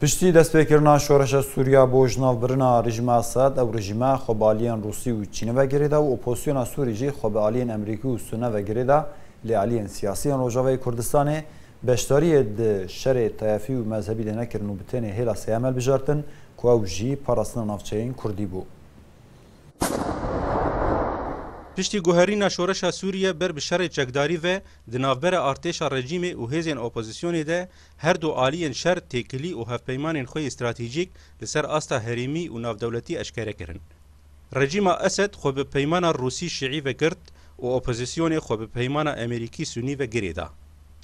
Piştî destpêkirina şoreşa Sûriya bo ji nav birina rejîma Esad, ew rejîma xwe bi aliyên Rûsî û Çînê ve girê da û opozisyona Sûrî jî xwe bi aliyên Amerîkî û Sûne ve girê da, lê aliyên siyasî yên Rojavayê Kurdistanê beşdariyê di şerê tayefî û mezhebî de nekirin û bi tenê hêla Seyamel bijartin ku ew jî parastina navçeyên Kurdî bû. Piştî guherîna şoreşa Sûriye ber bi şerê çekdarî ve di navbera artêşa rejîmê û hêzên opozisyonê de her du aliyên şer têkilî û hevpeymanên xwe yê stratejîk li ser asta herêmî û navdewletî eşkere kirin. Rejîma Esed xwe bi peymana Rûsî-Şîî ve girt û opozisyonê xwe bi peymana Emerîkî-Sunî ve girêda.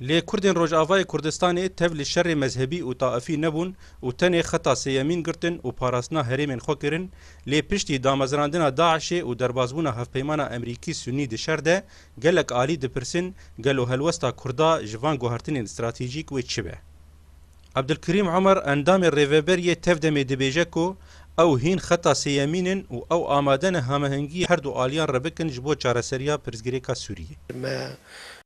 Lê Kurdên Rojavayê Kurdistanê tev li şerê mezhebî û taifî nebûn û tenê xeta sêyemîn girtin û parastina herêmên xwe kirin, lê piştî damezrandina DAIŞ'ê û derbasbûna hevpeymana Emerîkî-Sunnî di şer de, gelek alî dipirsin gelo helwesta Kurda ji van guhertinên stratejîk wê çi be. Abdulkerîm Omer endamê Rêveberiyê tev demê dibêje ku ew hîn xeta sêyemîn in û ew amade ne hamehengiyê her du aliyan re bikin ji bo çareseriya pirsgirêka Sûriyê. Me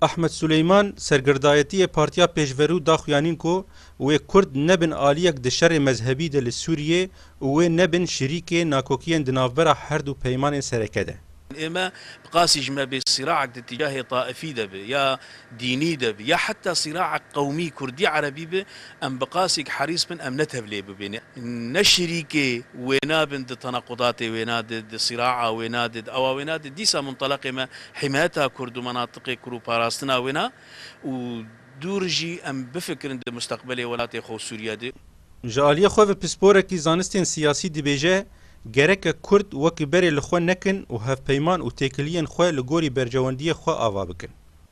Ahmet Suleyman sergirdayetiyê Partiya Pêşverû da xuyanîn ku wê Kurd nebin aliyek di şerê mezhebî de li Sûriyê û wê nebin şirîkê nakokiyên di navbera herdû peymanên sereke de. Ême bi qasî ji me bê sîraek di tîcahê taifî de be ya dînî de be ya heta sîraek qewmî kurdî erebî be Em bi qasîk herîs bin em ne tevlê bibin, ne şirîkê wêna bin di tenaqudatê wêna de, di sîraa wêna de, di awa wêna de. Dîsa munteleqê me hîmayeta kurd û menatiqê kur û parastina wêna û dûr jî em bifikirin di musteqbelê welatê xwe û Sûriye de. Ji aliyê xwe ve pisporekî zanistên siyasî dibêje, Gereke kurd wekî berê li xwe nekin û hevpeyman û têkiliyên xwe li gorî berjewendiyê xwe ava bikin.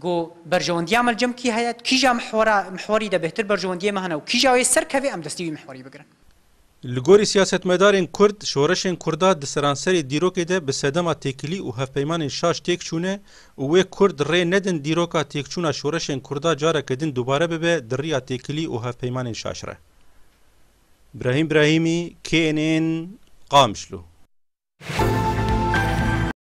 Ku berjewendiya me li cem kî heye, kîja mihwera mihwerî de bêhtir berjewendiyê me hene û kîja wê serkeve em destî wî mihwerî bigirin. Li gorî siyasetmedarên kurd, şoreşên kurda di seranserê dîrokê de bi sedema têkilî û hevpeymanên şaş têk çûne û wê kurd rê nedin dîroka têkçûna şoreşên kurda careke din dubare bibe di riya têkilî û hevpeymanên şaş re. Brahîm Brahîmî, KNN, Qamişlo.